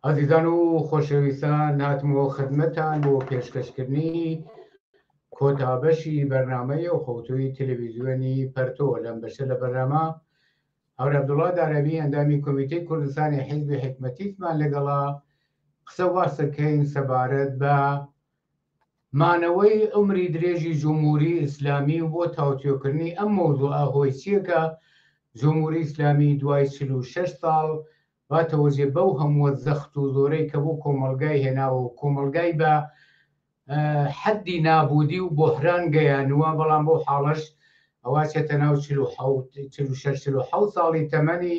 ئازیزان و خۆشەویستان هاتمەوە خدمەتان بۆ پێشکەشکردنی کۆتابەشی بەرنمەی و خەوتوی تەلەویزیۆنی پەرتۆ لەم بەشە لە بەرنامە هەورە عبدوڵا دارەبی ئەندامی کۆمیتەی کوردستانی حیزبی حکمەتیمان لەگەڵا قسە واسەکەین سەبارەت بە مانەوەی عومری درێژی جمهوری ئیسلامی و بۆ تاوتوێکردنی ئەم مەوزوعە هۆی چیە کە جمهوری ئیسلامی دوای چل و شەش ساڵ باتەوەجێ بەو هەمووە زەخت و زۆرەی کە بۆ کۆمەڵگای هێناوە و کۆمەڵگای بە حەدی نابودی و بۆحران گەیانوە بەڵام بەو حاڵەش ئەوا چێتە ناو چل و حەوت چل و شەش چل و حەوت ساڵی تەمەنی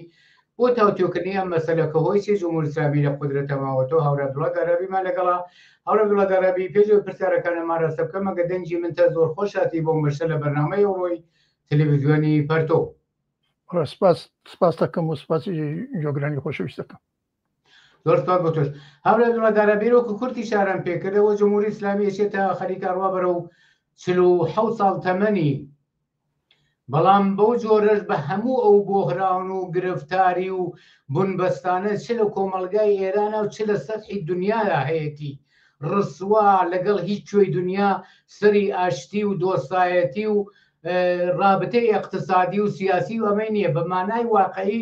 بۆ تاوتوێکردنی ئەم مەسەلە کە هۆی چی جمهوری اسلامی لە قودرەتە ماوەتەوە هاورا عبدوڵڵا دەرابیمان لەگەڵا هاورا عبدوڵڵا دەرابی پێش ئەوەی پرسیارەکانمان راستە بکەم ئەگە دەنگی من تا زۆر خۆش هاتی بۆم بەشە لە بەرنامەی ئەوڕۆی تلویزیۆنی پەرتۆ سپاس سپاس دەکەم و سپاسی جۆگرانی خۆشەویست دەکەم زۆر سپاس بۆ تۆش هەولێ دڵەدارە بیر وەکو کورتی شاران پێکردەوە جمهوری ئیسلامی ئێشێ تا خەریکە ڕوا بەرە و چل و حەوت ساڵ تەمەنی بەڵام بەو جۆرەش بە هەموو ئەو بۆهراون و گرفتاری و بنبەستانە چ لە کۆمەلگای ئێرانە و چ لە سەرحی دنیادا هەیەتی ڕسوا لەگەڵ هیچ کوێی دنیا سەری ئاشتی و دۆستایەتی و ڕابتەی اقتصادی و سیاسی و ئەمەی نییە بە مانای واقعی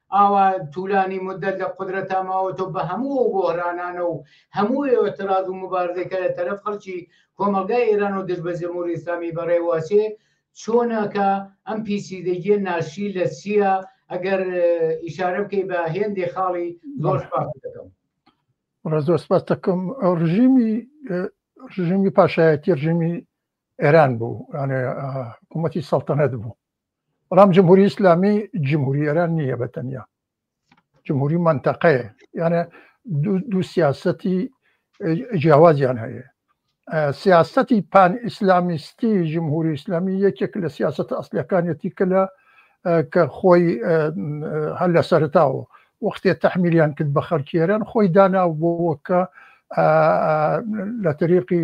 ئاوا تولانی مودەت لە قودرەتا ماوەتەو بە هەموو ئەو بۆهرانانە و هەموو ئێۆتراز و موبارزەی کە لە تەرەف خەلکی کۆمەلگای ئێران و دژ بە جمهوری ئیسلامی بە رێوە ئەچێ چۆنە کە ئەم پیچیدگیە ناشی لە چیە ئەگەر ئیشارە بکەی بە هێندێ خاڵی زۆر سپاست دەکەم. بەڕێز زۆر سپاس دەکەم ئەو ڕژیمی ڕژیمی پاشایەتی ڕژیمی ئێران بوو یانێ حکوومەتی سەڵتەنەت بوو بەڵام جمهوری ئیسلامی جمهوری ئێران نییە بە تەنیا جمهوری منتەقەیە یانە دوو سیاستی جیاوازیان هەیە سیاستی پان ئیسلامیستی جمهوری ئیسلامی یەکێک لە سیاست ئەسلەکانیەتی کە لە کە خۆی هەر لە سەرتاوە وەختێ تەحمیلیان کرد بە خەرکیێران خۆی داناو بۆ وەکە لە تریقی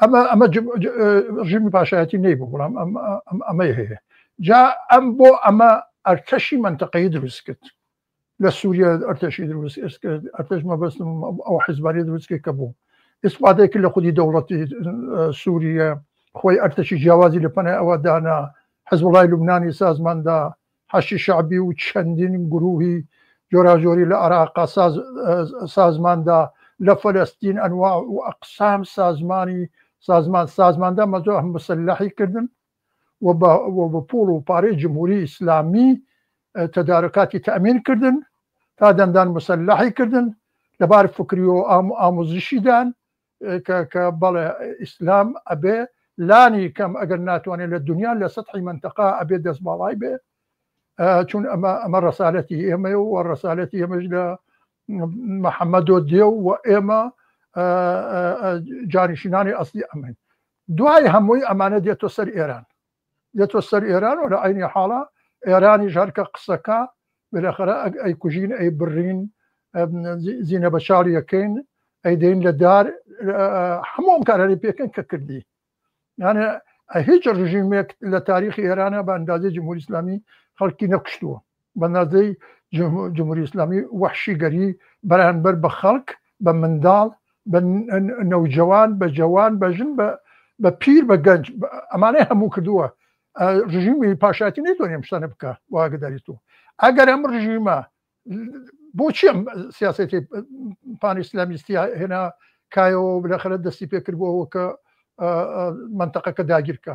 ئەمە ئەمە ڕژیمی پاشایەتی نەی بوو بڵام ئەمەی هەیە جا ئەم بۆ ئەمە ئەرتەشی منتەقەی دروست کرد لە سووریا ئەرتەشی دروست کرد ئەرتەش مەبەستم ئەو حزباری دروست کرد کە بوو ئیسپادێک لە خودی دەوڵەتی سووریە خۆی ئەرتەشی جیاوازی لە پەنای ئەوە دانا حزب وڵای لوبنانی سازماندا حەشدی شەعبی و چەندین گرووهی جۆراجۆری لە عەراق سازماندا، لە فەلەستین ئەنواع و ئەقسام سازمانی سازمان سازماندا مەزۆه مسلحی کردن و بە پووڵ و پارەی جمهووری ئیسلامی تەدارکاتی تەئمین کردن تا دەندان مسلحی کردن لە بار فکری و ئاموزشیدان کە بەڵێ ئیسلام ئەبێ لانی کەم ئەگەر ناتوانێت لە دنیا لە سەحی منتەقا ئەبێ دەست باڵای بێ چون ئەمە ئەمە ڕسالەتی ئێمە و ڕسالەتی ئێمەش لە محەممەدۆ دێ و ئێمە جانیشینانی ئەستی ئەمن دوای هەمووی ئەمانە دێتۆ سەر ئێران دێتۆ سەر ئێران و لە عەینی حاڵا ئێرانیش هەر کە قسە کا بێلەخەرە ئەگ ئەی کوژین ئەی بڕین زینە بە چاڵ یەکەین ئەی دەین لە دار هەمووم کارەری پێکەن کە کردی یانە هیچ ڕژیمێک لە تاریخی ئێرانە بە ئەندازی جمهوری ئسلامی خەڵکی نەکوشتووە بە نازی جمهوری ئیسلامی وەحشیگەری بەرانبەر بە خەڵک، بە منداڵ، بە نەوجەوان، بە جەوان، بە ژن، بە پیر، بە گەنج، ئەمانەی هەموو کردووە، ڕژیمی پاشایەتی نەیتوانی ئەم شتانە بکا بۆ ئاگەداری تۆ ئەگەر ئەم ڕژیمە بۆچی ئەم سیاسەتی پان ئیسلامیستی هێنا کایەوە بلەخەرە دەستی پێکردبووەوە کە منتەقەکە داگیرکە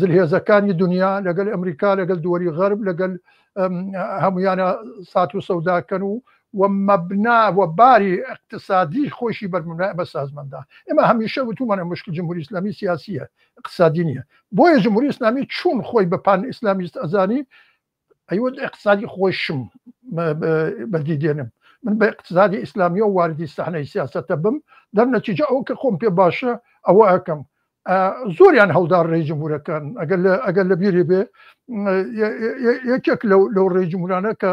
زلهێزەکانی دنیا لەگەل ئەمریکا لەگەل دووەری غەرب لەگەل هەمویانە سات و سەوداکەن و و مەبنا و باری اقتصادی خۆشی بەرمونای ئەمە سازمەندا ئمە هەمیشە وتومانە مشکل جمهوری اسلامی سیاسیە اقتصادی نیە بۆیە جمهوری اسلامی چون خۆی بە پان اسلامیست ئەزانی ئەیوە ئیقتسادی خۆیشم بەدی دێنم من بە ئیقتسادی ئیسلامی و واردی سەحنەی سیاسەتە بم دەر نەتیجە ئەو کە خۆم پێ باشە ئەوە ئەکەم زۆریان هەڵدار ڕێی جمهورەکان ئەگەر لە ئەگەر لە بیری بێ یەکێک لەو لەو ڕێی جمهورانە کە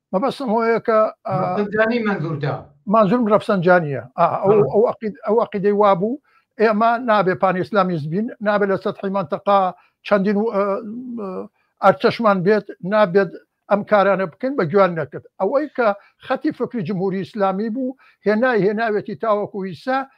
مەبەستم هۆیە کە جانی منزوردا مازرم ڕفسەنجانیە ئەو عقید ئەو عقیدەی وابوو ئێمە نابێ پان ئیسلامیز بین نابێت لە سەدحی منتەقا چەندین و ئەرچەشمان بێت نابێت ئەم کارانە بکەین بە گویان نەکرد ئەوەی کە خەتی فکری جمهوری ئیسلامی بوو هێنای هێناوێتی تاوەکو ئیسا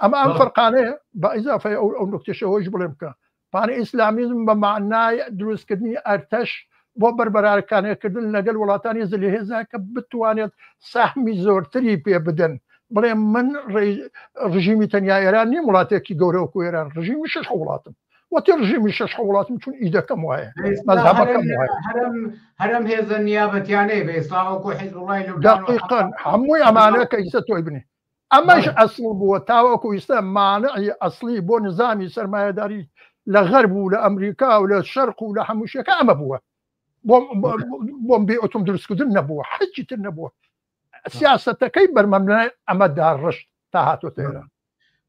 ئەمە ئەم فەرقانەیە بە ئیزافی ئەو ئەو نکتێشەوەش بڵێ بکە پانە ئیسلامیزم بە معنای دروستکردنی ئەرتەش بۆ بەربەرارکانەکردن لەگەل وڵاتانی زلهێزا کە بتوانێت سەحمی زۆرتری پێ بدەن بڵێ من ڕژیمی تەنیا ئێران نیم وڵاتێکی گەورەوە کو ئێران ڕژیمی شش وڵاتم وەتی ڕژیمی شش وڵاتم چون ئیدەکەم وایە مەزهبەکەم هەرم هێزە نیابەتیانەی بە ئیسلاوەکو حیزبڵی لەقیقن هەمووی ئەمانە کە ئیسە تۆی بنی ئەمەش ئەسڵ بووە تاوەکو ئیستا مانعی ئەسڵی بۆ نزامی سەرمایەداری لە غەرب و لە ئەمریکا و لە شەرق و لە هەمووشەکە ئەمە بووە بۆم بێ ئۆتۆم دروستکردن نەبووە حەچی تر نەبووە سیاستەکەی بەرمەمنای ئەمە داڕشت تا هاتۆ تێرە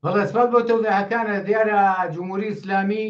بەڵێسپات بۆ تەوزەکانە دیارە جمهوری ئیسلامی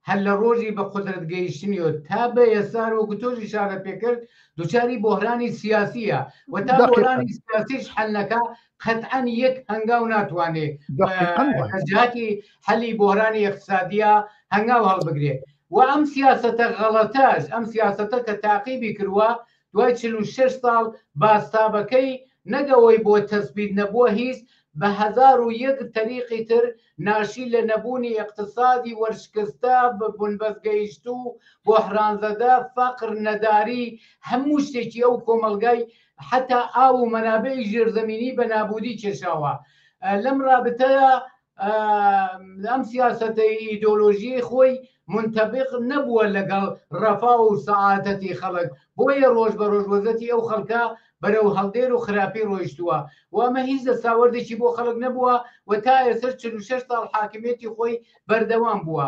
هەر لە ڕۆژی بە قودرەت گەیشتنی و تا بە ئێستا وەکو تۆش ئیشارەت پێ کرد دوچاری بۆهرانی سیاسییە و تا بۆهرانی سیاسیش حەل نەکا قەتعەن یەک هەنگاو ناتوانێ بە دەقیقاً وایە. لە جیاتی حەلی بۆهرانی ئیقتسادییە هەنگاو هەڵبگرێ و ئەم سیاسەتە غەڵەتەش ئەم سیاسەتە کە تاقیبی کرووە دوای چل و شەش ساڵ بازتابەکەی نەک ئەوەی بۆ تەسبیت نەبووە هیچ بە هەزار و یەک تەریقی تر ناشی لە نەبوونی ئیقتسادی وەرشکستە بە بنبەست گەیشتوو بۆحرانزەدە فەقر نەداری هەموو شتێکی ئەو کۆمەڵگای حەتا ئاو و مەنابعی ژێرزەمینی بە نابوودی کێشاوە لەم رابتەدا ئەم سیاسەتەی ئیدۆلۆژیی خۆی منتەبق نەبووە لەگەڵ ڕەفا و سەعادەتی خەڵک بۆیە ڕۆژ بە ڕۆژ وەزەتی ئەو خەڵکە بەرەو هەڵدێر و خراپی ڕۆیشتووە و ئەمە هیچ دەستاوەردێکی بۆ خەڵک نەبووە و تا ئێسش چ شش ساڵ حاکمێتی خۆی بەردەوام بووە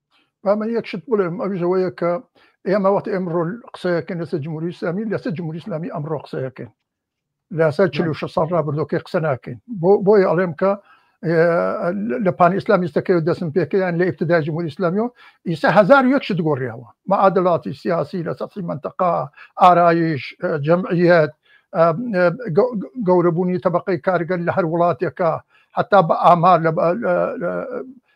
با من یەک شت بڵێم ئەویش ئەوەیە کە ئێمە وەخت ئێمڕۆ قسەیەکەن لەسەر جمهوری ئیسلامی لەسەر جمهوری ئیسلامی ئەمڕۆ قسەیەکەن لەسەر 46 ساڵ رابردۆکەی قسە ناکەین بۆ بۆی ئەڵێم کە لە پان ئیسلامیستەکەی و دەسم پێکەیان لە ئفتدای جمهوری ئیسلامی و ئیسا هزار یەک شت گۆڕیەوە مەعادلاتی سیاسی لە سەفی منتەقا ئارایش جەمعیت گەورەبوونی طبقەی کارگەر لە هەر وڵاتێکە حتا بە ئامار لە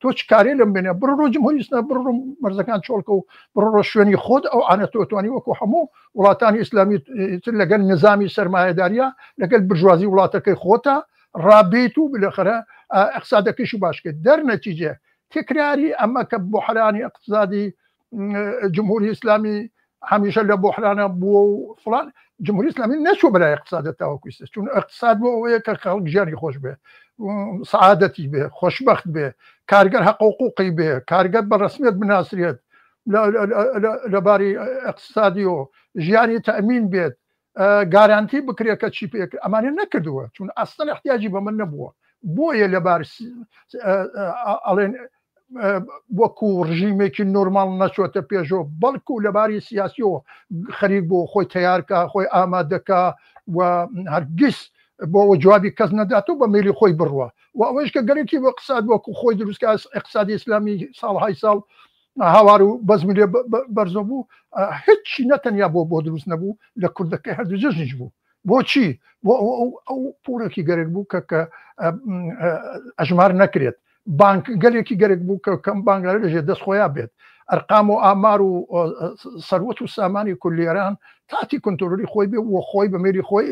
تۆ چ کارێ لەم بێنە بڕۆ ڕۆ جمهوری ئیسلام بڕۆ ڕۆ مەرزەکان چۆڵکە و بڕۆ ڕۆ شوێنی خۆت ئەو ئانە تۆتوانی وەکو هەموو وڵاتانی ئیسلامی تر لەگەل نظامی سرمایهداریە لەگەل برژوازی وڵاتەکەی خۆتە ڕابیت و بلەخەرە ئەقسادەکەشی باشکرد دەر نەتیجێ تکراری ئەمە کە بۆحرانی ئەقتصادی جمهوری ئیسلامی هەمیشە لە بۆحرانە بووە و فلان جمهوری ئسلامی نەچوە بەلای اقتصادە تاوەکویستە چون اقتصاد بۆ ئەوەیە کە خەڵک ژیانی خۆش بێ سعادەتی بێ خۆشببخت بێ کارگەر حقوقوقی بێ کارگەر بە ڕسمیت بناسرێت لەباری اقتصادی و ژیانی تەمین بێت گارانتی بکرێت کە چی پێکرد ئەمانە نەکردووە چون ئەستن احتیاجی بە من نەبووە بۆیە لەبار ئەڵێن وەکو ڕژیمێکی نۆرمال نەچۆتە پێشەوە بەڵکو لەباری سیاسیەوە خەریک بۆ خۆی تیارکە خۆی ئامادەکە و هەرگیز بۆ جوابی کەس نەدات و بە میلی خۆی بڕوە و ئەوەش کە گەرەکی بە قسات وەکو خۆی دروستکە اقتصادی ئسلامی ساڵهای ساڵ هاوار و بەزم لێ بەرزۆ بوو هیچی نەتەنیا بۆ بۆ دروست نەبوو لە کوردەکەی هەردوو جەژنیش بوو بۆچی بۆ ئەو پوڵێکی گەرێک بوو کە کە ئەژمار نەکرێت بانک گەلێکی گەرێک بوو کە کەم بانگلار لەژێ دەست خۆیان بێت ئەرقام و ئامار و سەروەت و سامانی کولیێران تاتی کنتۆری خۆی بێ و خۆی بە مێری خۆی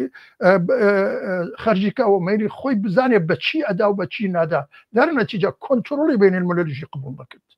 خەرجیکەەوە مێری خۆی بزانێت بە چی ئەدا و بە چی نادا دەرنەتیجا کۆنتترۆلی بینێن ملەژی قبول بکرد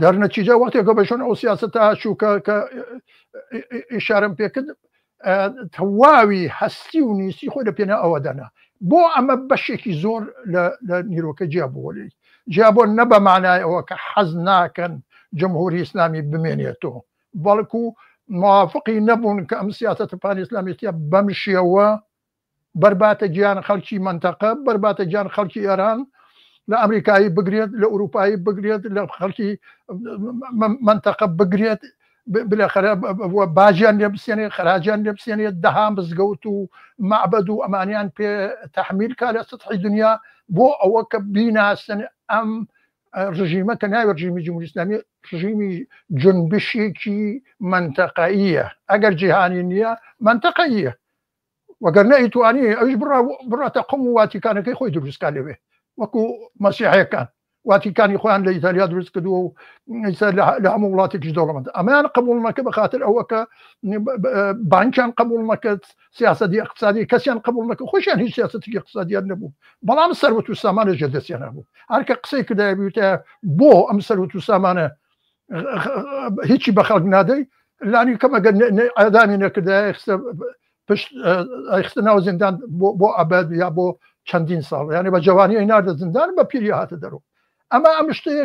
دەرنەچیجا وەختێک کە بەشن ئەو سیاستە هەچوو کە کە ئشارم پێکرد تەواوی هەستی و نیستی خۆی لە پێنا ئەوە دەنا بۆ ئەمە بەشێکی زۆر لە نیرۆکە جیا بووە لێی جیا بۆ نە بە مانای ئەوە کە حەز ناکەن جمهوری ئیسلامی بمێنێتەوە بەڵکو موافقی نەبوون کە ئەم سیاستە پانی ئسلامیتە بەم شێوە بەرباتە گیان خەڵکی مەنتەقە بەرباتە گیان خەڵکی ئێران لە ئەمریکایی بگرێت لە ئوروپایی بگرێت لە خەڵکی مەنتەقە بگرێت باجیان لێ بسێنێ خراجیان لێ بسێنێت دەها مزگەوت و معبد و ئەمانیان پێ تحمیل کا لە سطحی دنیا بۆ ئەوە کە بیناسن ئەم ڕژیمە کە ناوی ڕژیمی جمهوری ئسلامی ڕژیمی جنبشێکی منتەقەیە ئەگەر جیهانی نییە منتەقەیە وەگەر نەئیتوانی ئەوش بڕا بڕاتە قم و واتیکانەکەی خۆی دروستکە لەوێ وەکو مەسیحەکان واتیکانی خۆیان لە ئیتالیا دروست کردووە و لە هەموو وڵاتێکی دەوڵەمەند ئەمان قبولمەکە بە خاطر ئەوەکە بانکیان قبولمەکەت سیاستی اقتصادی کەسیان قبولمەکە خۆشیان هیچ سیاستی اقتصادیان نەبوو بەڵام سەروەت و سامانە ژێ دەستیان هەبوو هەرکە قسەی کردای بوتە بۆ ئەم سەروەت و سامانە هیچی بە خەڵک نادەی لانی کەمەگە ئەدامی نەکردایخستە پشت ئەخستە ناو زیندان بۆ ئەبد یا بۆ چەندین ساڵ یانە بە جوانی ئەی ناردە زیندان بە پیری هاتە دەرو ئەمە ئەم شتەیە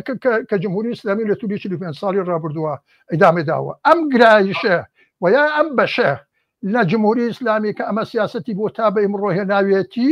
کە جمهوری ئسلامی لە تولی چ پێ ساڵی ڕابردووە ئەدامێ داوە ئەم گرایشە و یا ئەم بەشە لە جمهوری ئسلامی کە ئەمە سیاستی بۆ تا بە ئمڕۆهێ ناوێتی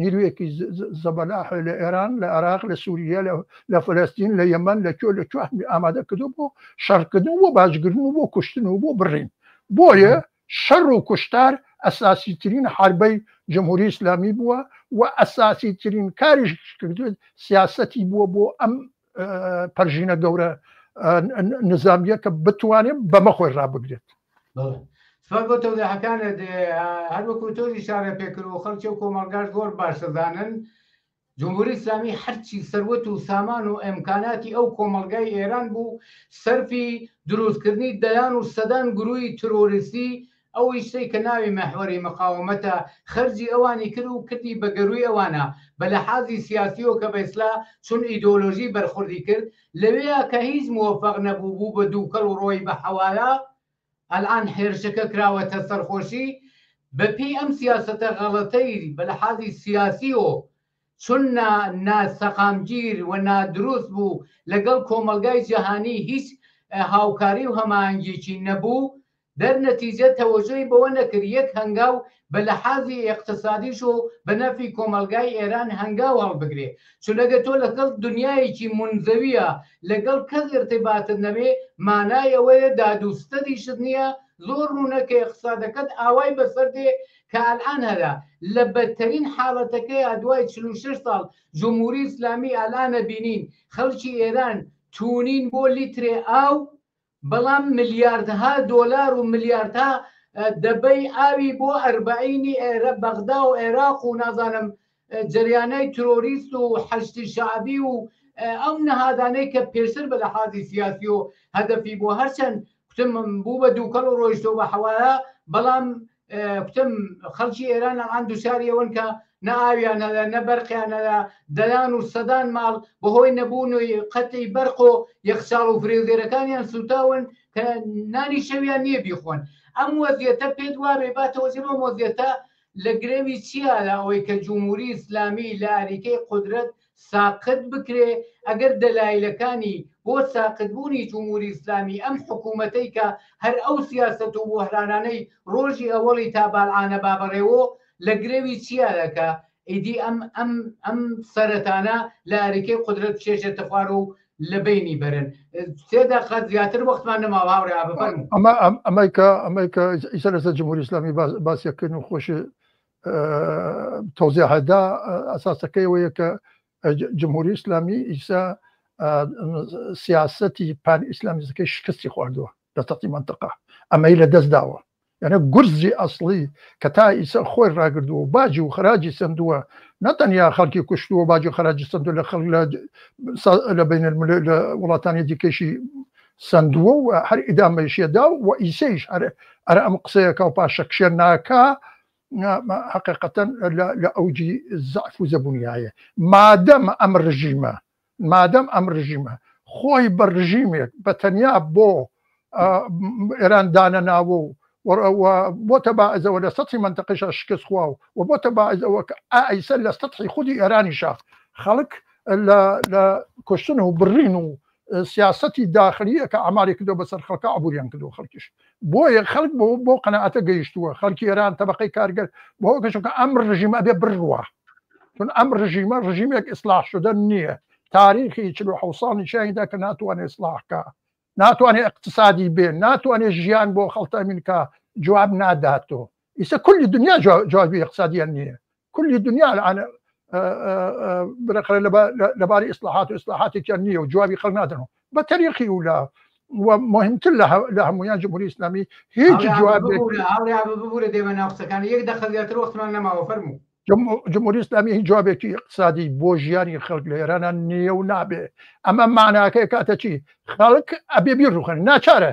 نیرویەکی زەبەلاح لە ئێران لە عێراق لە سوریە لە فەلەستین لە یەمەن لە کوێ لە کوێ ئامادە کردو بۆ شەڕکردن بۆ باجگرن و بۆ کوشتن و بۆ بڕین بۆیە شەڕ و کوشتار ئەساسی ترین حربەی جمهوری ئیسلامی بووە و ئەساسی ترین کاریش کردوێت سیاسەتی بووە بۆ ئەم پەرژینە گەورە نزامیە کە بتوانێت بەمە خۆی ڕابگرێت سپاس بۆ تەوداحەکانت هەروەکو تۆزی شارە پێکرد و خەڵکی و کۆمەڵگاش زۆر باش دەزانن جمهوری ئسلامی هەرچی سەروەت و سامان و ئەمکاناتی ئەو کۆمەلگای ئێران بوو سەرفی دروستکردنی دەیان و سەدان گروی ترۆریستی ئەویش سەی کە ناوی مەحوەری مقاومەتە خەرجی ئەوانی کر و کردی بە گەرووی ئەوانە بە لەحازی سیاسی و کە بە ئیسلا چون ئیدۆلۆژی بەرخوردی کرد لەوێیا کە هیچ موەفەق نەبوو بوو بە دووکەڵ و ڕۆی بە حەوالا ئەلئان هێرشەکە کراوەتە سەر خۆشی بە پێی ئەم سیاسەتە غەڵەتەی بە لەحازی سیاسی و چون نا نا سەقامگیر و نادروست بوو لەگەڵ کۆمەڵگای جەهانی هیچ هاوکاری و هەماهەنگیەکی نەبوو دەر نەتیجە تەوەجۆی بەوە نەکرد یەک هەنگاو بە لەحازی ئێقتسادیش و بە نەفی کۆمەڵگای ئێران هەنگاو هەڵبگرێ چونەگە تۆ لە گەڵ دنیایەکی مونزەویە لە گەڵ کەس ئیرتیباتت نەبێ مانای ئەوەیە داد و ستەدیشت نیە زۆر ڕوونە کە ئێقتسادەکەت ئاوای بە سەر دێ کە ئەلئان هەرە لە بەدتەرین حالەتەکەیا دوای چل و شەش ساڵ جمهوری ئیسلامی ئەلئان ئەبینین خەڵکی ئێران تونین بۆ لیترێ ئاو بەڵام ملیاردها دۆلار و ملیاردها دەبەی ئاوی بۆ ئەربەعینی ئێرە بەغدا و عێراق و نازانم جەریانای ترۆریست و حەشدی شەعبی و ئەو نەهادانەی کە پێشتر بە لەحازی سیاسی و هەدەفی بۆ هەرچەند کوتم بوو بە دووکەڵ و ڕۆیشتۆ بە حەوایە بەڵام کوتم خەڵکی ئێران ئەمان دووچاری ئەوەن کە نە ئاویانە لە نە بەرقیانە لە دەیان و سەدان ماڵ بەهۆی نەبوون و قەتی بەرق و یەخچاڵ و فرێزێرەکانیان سوتاون کە نانی شەویان نییە بیخۆن ئەم وەزیەتە پێت وابێ باتەوەزیەوە مۆزیەتە لە گرەوی چیا لە ئەوەی کە جمهوری ئیسلامی لە ئاریکەی قدرەت ساقت بکرێ ئەگەر دەلایلەکانی بۆ ساقت بوونی جموری ئیسلامی ئەم حکومەتەی کە هەر ئەو سیاسەت و بۆهرانانەی رۆژی ئەوەڵی تا بالعانە بابەڕێوۆ لە گرەوی چیا دەکا ئیدی ئەم ئەم ئەم سەرەتانە لە ئەریکەی قودرەت بچێژێتە خوار و لە بەینی بەرن سێ دەقە زیاتر وەختمان نەماوە هاورێ بفەرموو ئەمە ئەم ئەمەیکە ئەمەیکە ئیسە لەسەر جمهوری ئیسلامی باس باسیەکەین و خۆشی تۆزیهدا ئەساسەکەی ئەوەیە کە جمهوری ئیسلامی ئیسا سیاستی پان ئیسلامیزەکەی شکستی خواردووە لە تەقی منتەقا ئەمەی لە دەست داوە یعنی گورزی ئەسڵی کە تا ئیسا خۆی ڕاگردووە باجی و خراجی سندووە نەتەنیا خەڵکی کوشتووە باجی خراجی سندو لە خەڵ لە بین لە وڵاتانی دیکەشی سەندووە و هەر ئیدامەیشیە دا و ئیسەیش هەر ئەرا ئەم قسەیە کا و پاشەکشێ ناکا حەقیقەتەن لە ئەوجی زەعف و زەبونیایە مادەم ئەم رژیمە مادەم ئەم رژیمە خۆی بە رژیمێک بە تەنیا بۆ ئێران دانەناوە و بۆتە باعزەوە لە سەی منتەقیشە شکست خوا و و بۆتە باعزەوە کە ئایسە لە سەحی خودی ئێرانیشە خەڵک لە کوشتن و بڕین و سیاسەتی داخلی ە کە عەماری کردوە بەسەر خەڵکا عبوریان کردوە خەڵکیش بۆیە خەڵک بۆ بۆ قەناعەتە گەیشتوە خەڵکی ئێران تەبەقەی کارگەر بۆ کەشو کە ئەم ڕژیمە ئەبێ بڕوا چون ئەم ڕژیمە ڕژیمێک ئیسلاح شدەن نییە تاریخی چلو حەو ساڵ نیشانیدا کە ناتوانێت ئیسلاحکە ناتوانێت اقتصادی بێ ناتوانێت ژیان بۆ خەڵتەمینکە جواب ناداتۆ ئیسە کولی دنیا جوابی اقتصادیان نییە کولی دنیا الان برقرار لەباری ئیسلاحات و ئیسلاحاتێکیان نییە و جوابی خەڵ نادەنەوە بە تەریقی و لە مهمتر لە هەمویان جمهوری ئسلامی هیچ جواب ببورە دێمە ناوقسەکانی یەک دەخە زیاتر وەختمان نەماوە فەرمو جمهوری ئسلامی هیچ جوابێکی اقتصادی بۆ ژیانی خەڵک لە ئێرانە نییە و نابێ ئەمە ماناکەی کاتە چی خەڵک ئەبێ بیرروخن ناچارە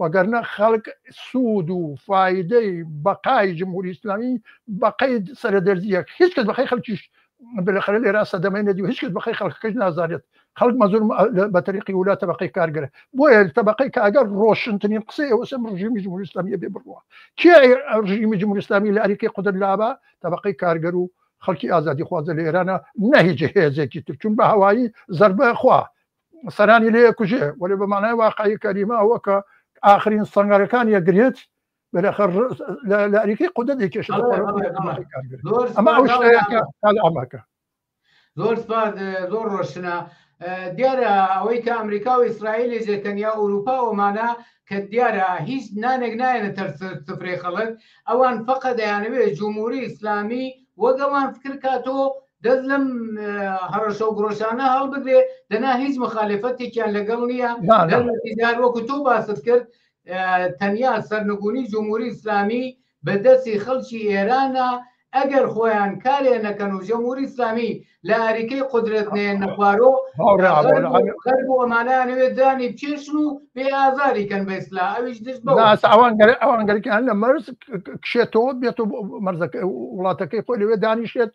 وەگەرنە خەڵک سوود و فایدەی بەقای جمهوری ئیسلامی بەقەی سەرە دەرزیەک هیچ کەس بەقەی خەڵکیش بلەخەرە لێرا سەدەمەی نەدی و هیچ کەس بەقەی خەڵکەکەش نازانێت خەڵک مەزور بە تەریقی ولا تەبقەی کارگەرە بۆیە تەبقەی کاگەر ڕۆشنترین قسەی ئەوسم ڕژیمی جمهوری ئیسلامیە بێ بڕوە کێ ڕژیمی جمهوری ئیسلامی لە ئەریکی قدر لابا تەبقەی کارگەر و خەڵکی ئازادی خوازە لە ئێرانە نەهیج هێزێکی تر چون بە هەوایی زەربە خوا سەرانی لێ کوژێ وەێ بە مانای واقعی کەریمە ئەوەکە ئاخرین سەنگەرەکان یەگرێت بەخە لەریکی قودە دەکێش ئەمە ئەو شتەکە ئەمەکە زۆر سپاس زۆر ڕۆشنە دیارە ئەوەی کە ئەمریکا و ئیسرائیلی زێتەنیا ئەوروپا ومانە کە دیارە هیچ نانێک نایەنە تەر سفرێ خەڵک ئەوان فقە دەیانەوێت جمهوری ئیسلامی وەگەوان فکرکاتۆ دەست لەم هەڕەشە و گڕۆشانە هەڵبگرێ دەنا هیچ مخالفەتێکیان لەگەڵ نییە دەرمەتیدار وەکو تۆ باست کرد تەنیا سەرنگونی جمهوری ئیسلامی بە دەستی خەڵکی ئێرانە ئەگەر خۆیان کارێ نەکەن و جمهوری ئیسلامی لە ئەریکەی قدرێت نێ نەخوارۆ بۆ ئەمانانەوێت دانی بچێشن و بێ ئازاری کەن بە ئیسلا ئەویش دشت ئەوانگەر ئەوانگەرکان لە مەرز کشێتەوە بێت و مەرزەکە وڵاتەکەی خۆی لەوێ دانیشێت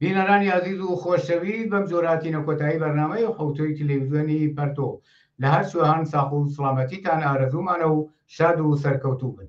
بینەرانی ئازیز و خۆشەویست بەم جۆرە هاتینە کۆتایی بەرنامەی حوتوی تلویزیۆنی پەرتۆ لە هەر سوێان ساخ و سڵامەتیتان ئارەزوومانە و شاد و سەرکەوتوو بن.